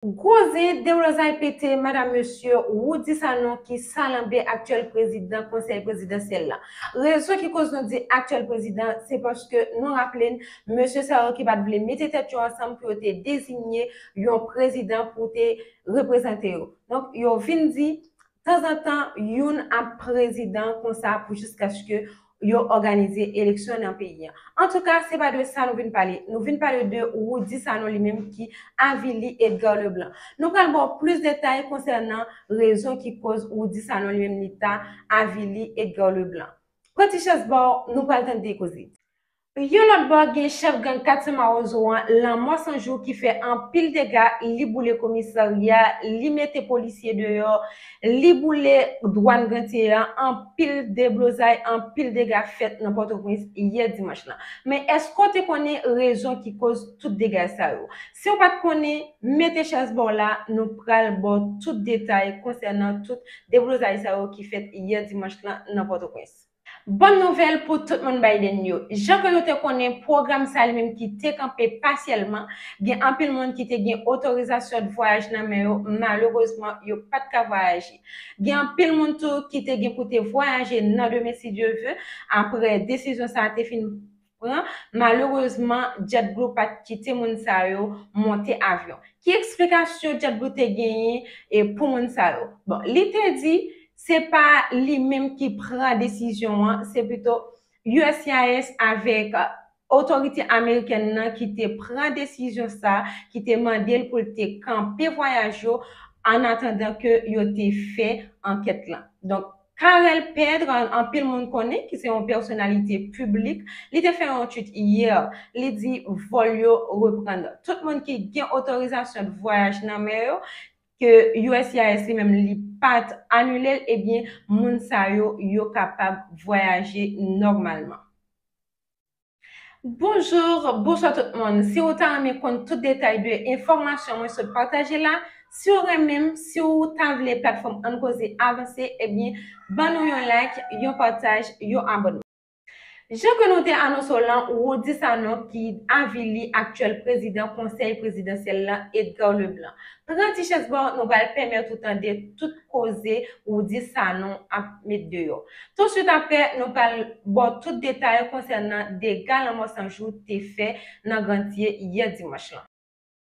Gwo zen Deblozay pete madam mesye Roudy Sanon ki salanbe aktyèl prezidan konsèy prezidansyèl la. Rezon ki koz nou di aktyèl prezidan se paske nou raple n mesye sa yo ki pat vle mete tèt yo ansanm pou yo te dezinye yon prezidan pou te reprezante yo. Donk yo vin di Tanzantan youn ap prezidan konsa pou jiskaske yo òganize eleksyon nan peyi an. Antouka, se pa de sa nou vin pale. Nou vin pale de Roudy Sanon li menm ki avili Edgar Leblanc. Nou pral ba w plis detay konsènan rezon ki koz Roudy Sanon li menm li ta avili Edgar Leblanc. Pran ti chèz ba w, nou pral tande koze. Yon lòt bò, gen chèf gang katye Mawozo an, Lanmò San Jou ki fè anpil dega, li boule komisarya, li mete polisye deyò, li boule dwàn Grantye an, anpil deblozay, anpil dega fèt nan Pòtoprens yè dimanch lan. Men èske w te konnen rezon ki koz tout dega sa yo? Si w pa t konnen, mete chèz ba w la, nou pral ba w tout detay konsènan tout deblozay sa yo ki fèt yè dimanch lan nan Pòtoprens. Bòn nouvèl pou tout moun Biden yo! Jan ke nou te konnen, pwogram sa li menm ki te kanpe pasyèlman, gen anpil moun ki te gen otorizasyon d vwayaj nan men yo, malerezman yo pa t ka vwayaje. Gen anpil moun tou ki te gen pou te vwayaje nan demen si Dye ve, apre desizyon sa a te fin. pran, malerezman JetBlue pa t kite moun sa yo monte avyon. Ki eksplikasyon JetBlue te genyen pou moun sa yo? Bon, li te di se pa li menm ki pran desizyon an, se pito uscis avèk otorite amerikèn nan ki te pran desizyon sa, ki te mande l pou l te kanpe vwayaj yo annatandan ke yo te fè ankèt lan. Donk, Carel Pedre, anpil moun konnen, ki se yon pèsonalite piblik, li te fè yon twit yè, li di vòl yo reprann. Tout moun ki gen otorizasyon de vwayaj nan men yo, ke uscis li menm li pa t anile l, ebyen moun sa yo, yo kapab vwayaje nòmalman. Bonjour, bonswa tout moun. Si ou ta renmen konn tout detay de enfòmasyon mwen sot pataje la, si ou renmen m, si ou ta vle platfòm Ann Koze avanse, ebyen ban nou yon like, yon pataj, yon abònman. Jan ke nou te anonse w lan, Roudy Sanon ki avili aktyèl prezidan konsèy prezidansyèl lan Edgar Leblanc. Pran ti chèz ba w, nou pral pèmèt ou tande tout. koze ou di sa nou ap met deyò. Tousuit aprè, nou pral ba w tout detay konsènan dega lanmò san jou te fè nan Grantye yè dimanch lan.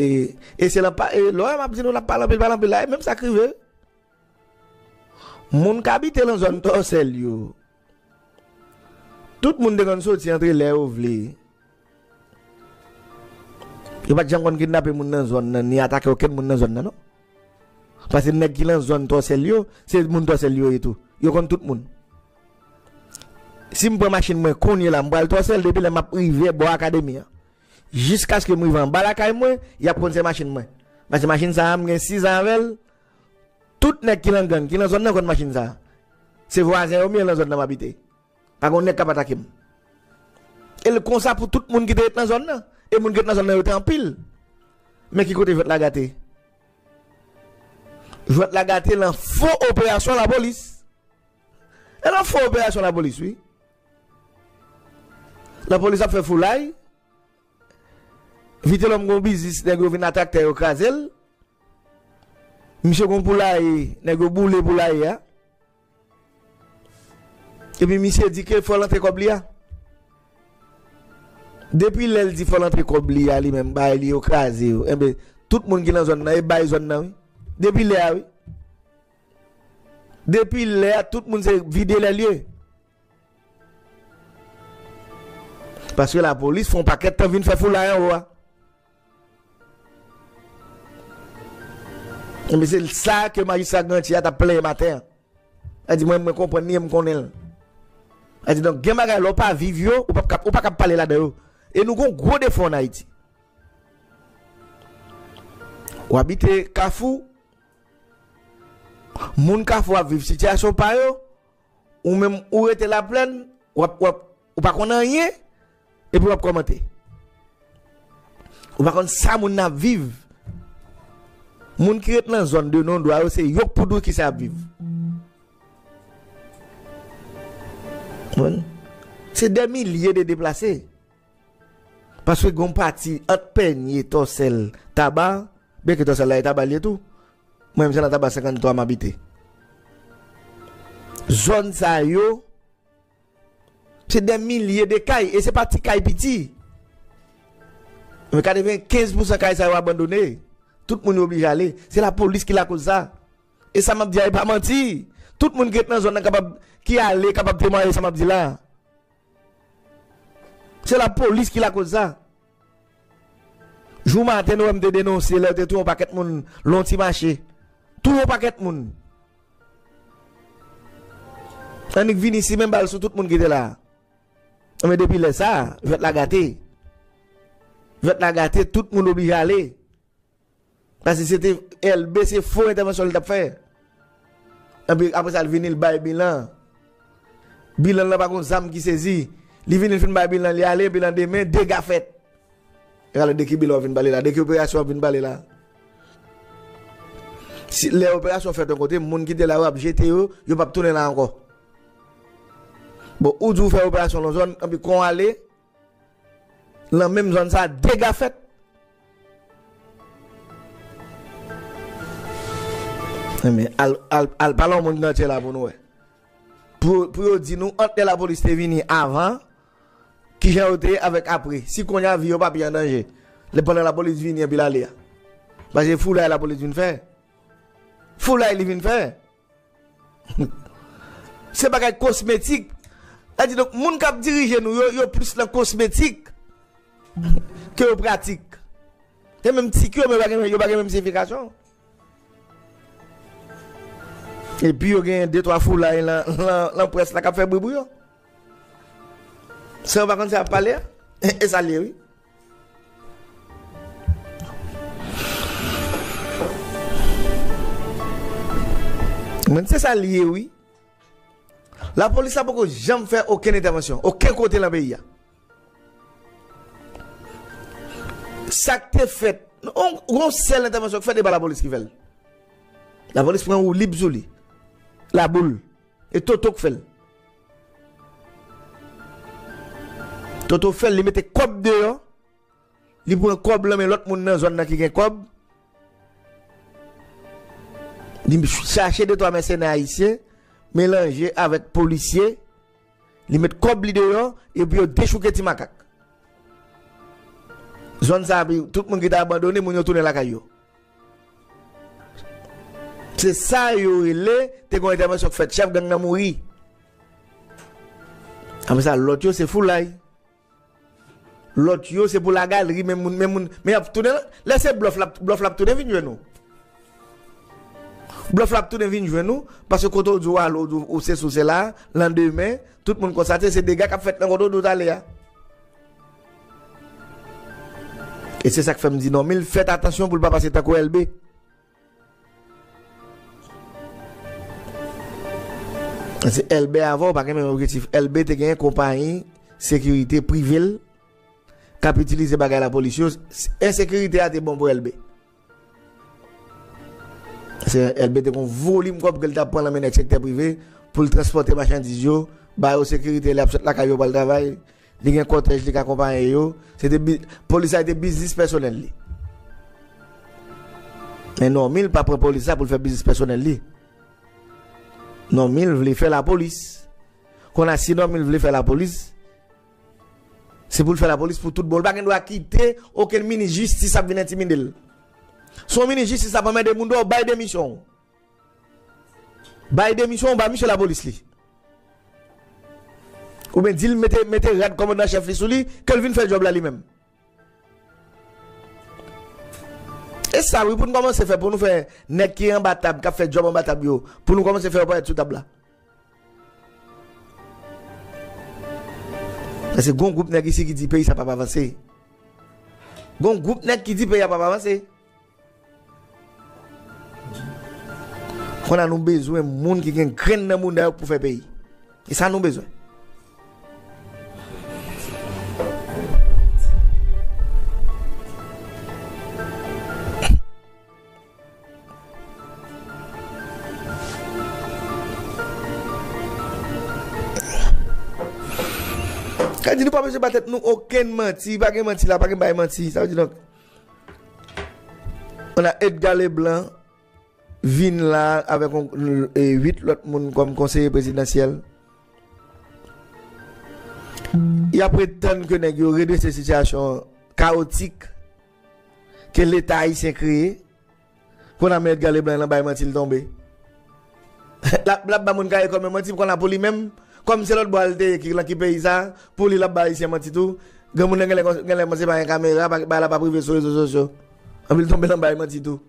E se lan pa, e lò a m ap di nou l ap pale anpil pale anpil la, e menm sa k rive moun k abite lan zòn Tòsèl yo. Tout moun te konn soti antre lè yo vle. Yo pa t janm konn kidnape moun nan zòn nan ni atake okenn moun nan zòn nan non. Pase nèg ki lan zòn Tòsèl yo, se moun Tòsèl yo ye tou. Yo konn tout moun. Si m pran machin mwen kounye la m pral Tòsèl depi lè m ap rive bò akademi an jiskaske m rive anba lakay mwen y ap konn se machin mwen. Pase machin sa a m gen 6 an avè l. Tout nèg ki lan gang ki lan zòn nan konn machin sa. Se vwazen yo m ye lan zòn nan m abite. Pa gon nèg k ap atake m. E l konsa pou tout moun ki te ret lan zòn nan. E moun ki ret lan zòn nan yo te anpil. Men ki kote jwèt la gate. Jwèt la gate lan fo operasyon lapolis. E lan fo operasyon lapolis wi. Lapolis ap fè foulay. Vitelòm gon biznis nèg yo vin a traktè yo kraze l. Misye gon poulaye nèg yo boule poulaye a. Epi misye di ke fò l antre kòb li a. Depi lè l di fò l antre kòb li a li menm bagay li yo kraze yo. Enben tout moun ki nan zòn nan e bay zòn nan wi. Depi lè a wi. Depi lè a tout moun se vide lè lye. Paske la polis fon pakèt tan vin fè foulay anwo a. Enben se sa ke majistra Granti a t ap plenyen maten an. Sa di mwen mwen konprann li e m konnen l. Sa di donk gen bagay lè w pa viv yo, ou pa ou pa kab pale ladan yo. E nou gon gwo defo an Ayiti. Ou abite Kafou, moun Kafou ap viv sitiyasyon pa yo. Ou menm ou rete la plèn wap wap ou pa konn anyen epi wap kòmante. Ou pa konn sa moun nan ap viv. Moun ki ret nan zòn de non dwa yo se yo k pou di w kisa yap viv. Se dè milye de deplase. Paske gen yon pati ant pènye, tòsèl, taba, byen ke tòsèl la e taba li ye tou, mwen menm se nan taba 53 m abite. Zòn sa yo, se dè milye de kay, e se pa ti kay piti. Mwen 95 pou san kay sa yo abandone, tout moun yo oblije ale, se la polis ki lakoz sa. E sa m ap di a e pa manti, tout moun ki ret nan zòn nan kapab, ki ale kapab temwaye sa m ap di la. Se la polis ki lakoz sa. Jou maten nou wè m te denonse lè yo te touye yon pakèt moun Lon ti mache. Touye yon pakèt moun. Annik vini ici men bal sou tout moun ki te la. Anben depi lè sa, jwèt la gate. Jwèt la gate, tout moun oblije ale. Pase se te Elbe se fo entèvansyon li tap fè. Epi apre sa li vini li bay bilan. Bilan lan pa gon zam ki sezi. Li vini li fin bay bilan li ale epi lan demen dega fèt. E alò de ki bilan wap vin pale la? De ki operasyon wap vin pale la? Si lè operasyon fèt yon kote moun ki te la yo ap jete yo, yo pap tounen la ankò. Bon ou di ou fè operasyon lan zòn epi kon ale. Lan menm zòn sa dega fèt. Enben, al pale yon moun ki nan tye la pou nou wè. Pou yo di nou ant lè lapolis te vini avan, ki jan yo te ye avèk apre. Si konnya vi yo pa pi an danje. Lè pandan lapolis vini epi l ale a. Pase foulay lapolis vin fè. Foulay li vin fè. Se bagay kosmetik. Sa di donk moun kap dirije nou yo, yo plis nan kosmetik ke yo pratik. Gen menm tik yo men yo pa gen menm siyifikasyon. E pi yo gen de twa foulay lan pwès la kap fè bri pou yo. San yo pa konn sa yap pale a, e sa l ye wi. M'en se sa li ye wi. La polis la poko janm fè okenn entèvansyon, oken kote lan peyi a. Sa k te fèt, gon sèl entèvansyon k fèt e pa la polis ki fè l. La polis pran woulib sou li, laboul. E toto k fel. Toto fel li mete kob deyo li pran kob lan men lot moun nan zon nan ki gen kob li chache de 3 mèsenè ayisyen melanje avek polisye li met kob li deyo epi yo dechouke ti makak zon sa pi tout moun ki te abandone moun yo tounen lakay yo. Se sa yo rele te gon entèvansyon k fèt chèf gang nan mouri. Apre sa lòt yo se foulay. Lòt yo se pou la galeri men moun men moun men y ap tounen lè se blòf la blòf la ap tounen vin jwenn ou. Blòf la ap tounen vin jwenn ou paske kote w di w ale ou se si w se la landemen tout moun konstate se dega k ap fèt nan kote w di w t ale a. E se sak fèm di Normil fèt atansyon poul pa pase tankou Elbe. Paske Elbe avèw pa gen menm objektif. Elbe te gen konpayi sekirite privel kap itilize bagay lapolis yo. Ensekirite a te bon pou Elbe. Se Elbe te kon volim kòb ke l t ap pran nan men nèg sektè prive pou l transpòte machandiz yo, ba yo sekirite lè y ap sot lakay yo pou al travay, li gen kòtèj li k akonpaye yo. Se te bi, polis la te biznis pèsonèl li. Men Normil pa pran polis la pou l fè biznis pèsonèl li. Normil vle fè lapolis. Kon a si Normil vle fè lapolis. Se pou l fè lapolis pou tout bon. Li pa gen dwa kite okenn minis jistis ap vin entimide l. Si yon minis jistis ap anmède moun dòw, bay demisyon w. Bay demisyon w, ba misye lapolis li. Oubyen di l mete rad kòmandan an chèf li sou li, ke l vin fè djòb la li menm. E sa wi pou n kòmanse fè pou nou fè nèg ki anba tab kap fè djòb anba tab yo pou nou kòmanse fè yo parèt sou tab la. Paske gon gwoup nèg isi ki di peyi sa pap avanse. Gon gwoup nèg ki di peyi a pap avanse. Konn a nou bezwen moun ki gen grenn nan mouda yo pou fè peyi. E sa nou bezwen. Kadi nou pa bezwen ba tèt nou okenn manti, pa gen manti la, pa gen bay manti, sa vle di donk. Ana Edgar Leblanc vin la avèk 8 lòt moun kòm konseye prezidansyèl. Y ap ret tann ke nèg yo redrese sitiyasyon kawotik ke leta ayisyen kreye Kon a men Edgar Leblanc lan bay manti l tonbe. Lap lap ba moun caricom yo manti kon a pou li menm kòm se lòt bò a l te ye ki lan ki peyi sa pou li lap ba ayisyen manti tou granmoun nan genlè genlè kòmanse pa gen kamera pa bagay la pap rive sou rezo sosyo epi l tonbe lan bay manti tou.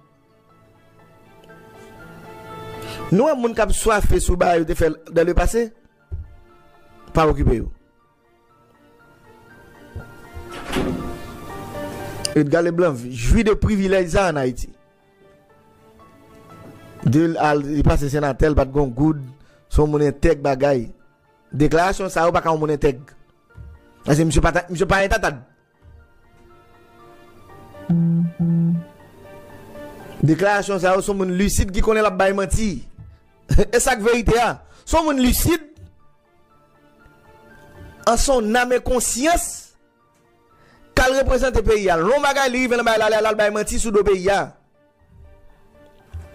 Nou wè moun kap swafe sou ba yo te fè dan le pase? Pa okipe yo. Edgar Leblanc jwi de privilèj sa an Ayiti. De l al li pase senatè l pa t gen yon goud, se yon moun entèg bagay. Deklarasyon sa yo pa ka yon moun entèg. Paske misye pa entantad. Deklarasyon sa yo son moun lisid ki konnen lap bay manti. E sak verite a? Son moun lisid an son nam e konsyans kal reprezante peyi a. Lon bagay li rive nan bagay la lal bay manti sou do peyi a.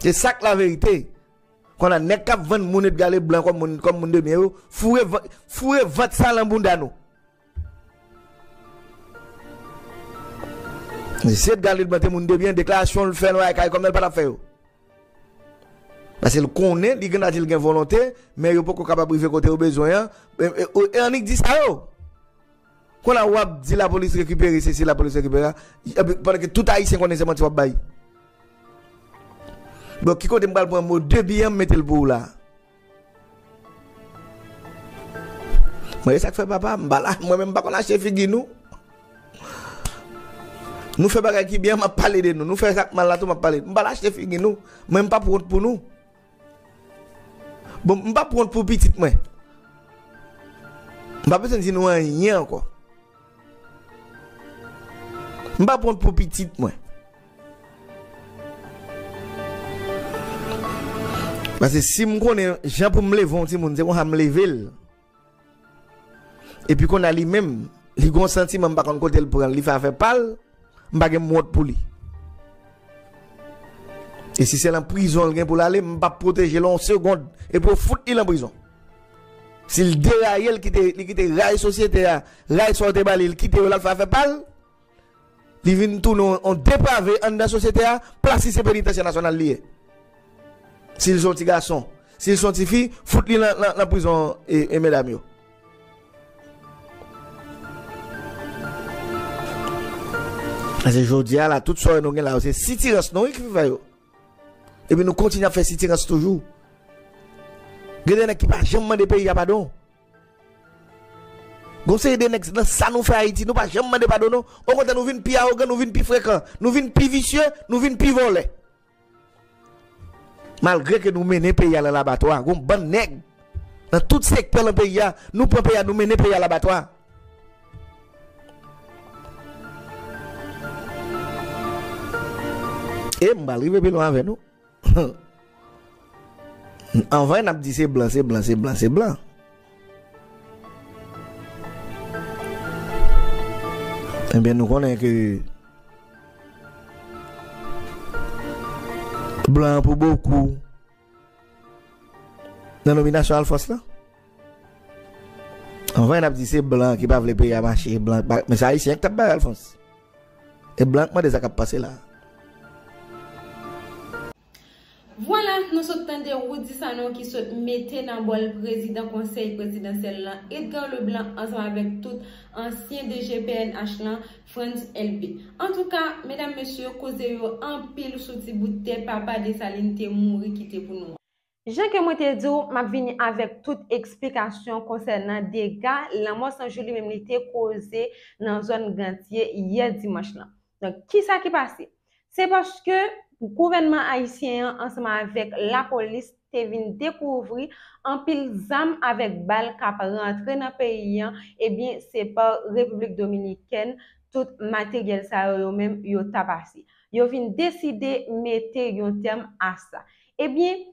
E sak la verite? Kon a nèg kap vann moun Edgale blan kom moun de byen yo foure vant sa lan bounda nou. Zi et galil mwen te moun de byen deklarasyon l fè lwa e kay kòmnèl pa tap fè yo. Pase l konnen li gen dwa di l gen volonte men yo poko kapab rive kote yo bezwen an e annik di sa yo. Konn a wap di la polis rekipere se si la polis rekipere epi pandan ke tout ayisyen konnen se manti wap bay. Bon ki kote m pral pran mo de byen an m mete l pou w la. Mwen esak fè papa m pala mwen menm m pa konn achte figi nou nou fè bagay ki byen map pale de nou nou fè sak mal la tou map pale m pala achte figi nou mwen m pap wont pou nou bon m pap wont pou pitit mwen m pa bezwen di nou anyen ankò. M pap wont pou pitit mwen. Pase si m konnen jan pou m leve yon timoun se konsa m leve l. Epi konn a li menm li gon santiman m pa konn kote l pran l li fè afè pa l. M pa gen mwont pou li. E si se lan prizon l gen pou l ale, m pap pwoteje l on segond. Epi yo fout li lan prizon. Si l deraye, li kite ray sosyete a, ray sa yo te ba li, li kite yo l al fè afè pa l, li vin tounen on deprave anndan sosyete a, plas li se penitansye nasyonal li ye. Si l se on ti gason. Si l se on ti fi, fout li lan prizon medam yo. Pase jodi a la tout sore nou gen la yo se sitirans nou ki fè yo. Epi nou kontinye ap fè sitirans toujou. Gen de nèg ki pa janm mande peyi a padon. Gon seri de nèg nan sa nou fè Ayiti nou pa janm mande padon non. Okontrè nou vin pi awogan, nou vin pi frekan, nou vin pi visye, nou vin pi vòlè. Malgre ke nou mennen peyi a lan labatwa, gon bann nèg lan tout sektè lan peyi a, nou pran peyi a nou mennen peyi a labatwa. E m pral rive pi lwen avè nou. Anvan n ap di se blan, se blan, se blan, se blan. Ebyen nou konnen ke blan an pou bokou nan nominasyon Alfons lan. Anvan y ap di se blan ki pa vle peyi a mache, blan pa, men se Ayisyen ki t ap bay Alfons. E blan k mande sa k ap pase la. Vwala, nou sot tande Roody Sanon ki sot mete nan bòl prezidan konsèy prezidansyèl lan Edgar Leblanc ansanm avèk tout ansyen DG pnh lan Frantz Elbé. Antouka, medam mesye, koze yo anpil sou ti bout tè papa Dessalines te mouri kite pou nou an. Jan ke mwen te di w, m ap vini avèk tout eksplikasyon konsènan dega lanmò san jou li menm li te koze nan zòn Gantye yè dimanch lan. Donk, kisa ki pase? Se paske gouvènman ayisyen an ansanm avèk lapolis te vin dekouvri anpil zam avèk bal k ap rantre nan peyi an, ebyen se pa Repiblik Dominikèn tout materyèl sa yo yo menm yo ta pase. Yo vin deside mete yon tèm a sa. Ebyen,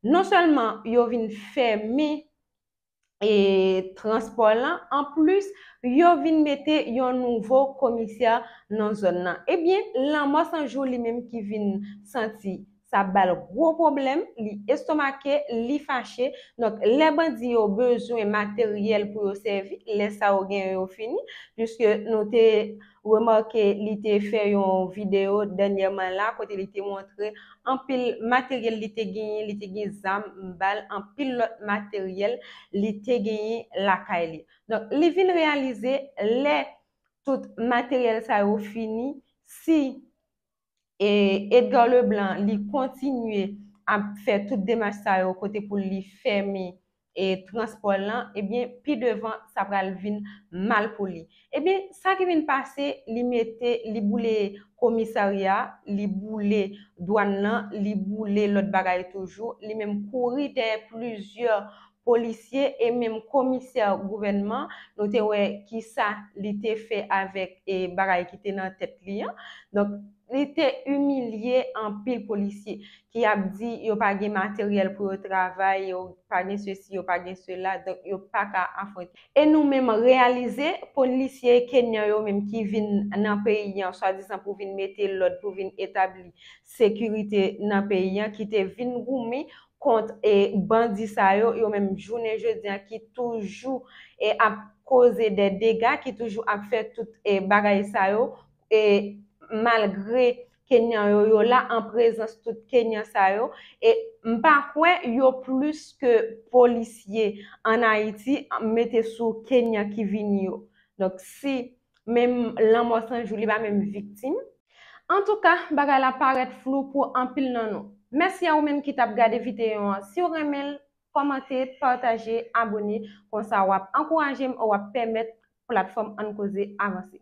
non sèlman yo vin fèmen e transpò lan, an plis, yo vin mete yon nouvo komisè nan zòn lan. Ebyen, Lanmò 100 jou li menm ki vin santi sa ap ba l gwo pwoblèm, li estomake, li fache. Donk, lè bandi yo bezwen materyèl pou yo sèvi, lè sa yo genyen yo fini, piske nou te. Remake li te fè yon videyo dènyèman la kote li te montre anpil materyèl li te genyen, li te gen zam, bal, anpil lòt materyèl li te genyen lakay li. Donk li vin reyalize lè tout materyèl sa yo fini, si. E Edgar Leblanc li kontinye ap fè tout demach sa yo kote pou li fèmen e transpò l lan, ebyen pi devan sa pral vin mal pou li. Ebyen sa ki vin pase li mete li boule komisarya, li boule dwann lan, li boule lòt bagay toujou, li menm kouri dèyè plizyè polisye e menm komisè gouvènman, nou te wè kisa li te fè avèk bagay ki te nan tèt li an. Donk, li te imilye anpil polisye ki ap di yo pa gen materyèl pou yo travay, yo pa gen sesi, yo pa gen sela, donk yo pa ka afwonte. E nou menm reyalize, polisye kenyan yo menm ki vin nan peyi an swadizan pou vin mete lòd, pou vin etabli sekirite nan peyi an, ki te vin goumen kont e bandi sa yo, yo menm jounen jodi an ki toujou e ap koze dè dega, ki toujou ap fè tout e bagay sa yo, e malgre Kenyan yo, yo la an prezans tout Kenyan sa yo, e m pa kwè yo plis ke polisye an Ayiti, mete sou Kenyan ki vini yo. Donk si. menm lanmò Sanjou li pa menm viktim. Antouka, bagay la parèt flou pou anpil nan nou. Mèsi a ou menm ki t ap gade videyon an. Si w renmen l, kòmante, pataje, abone, konsa w ap ankouraje m, w ap pèmèt platfòm Ann Koze avanse.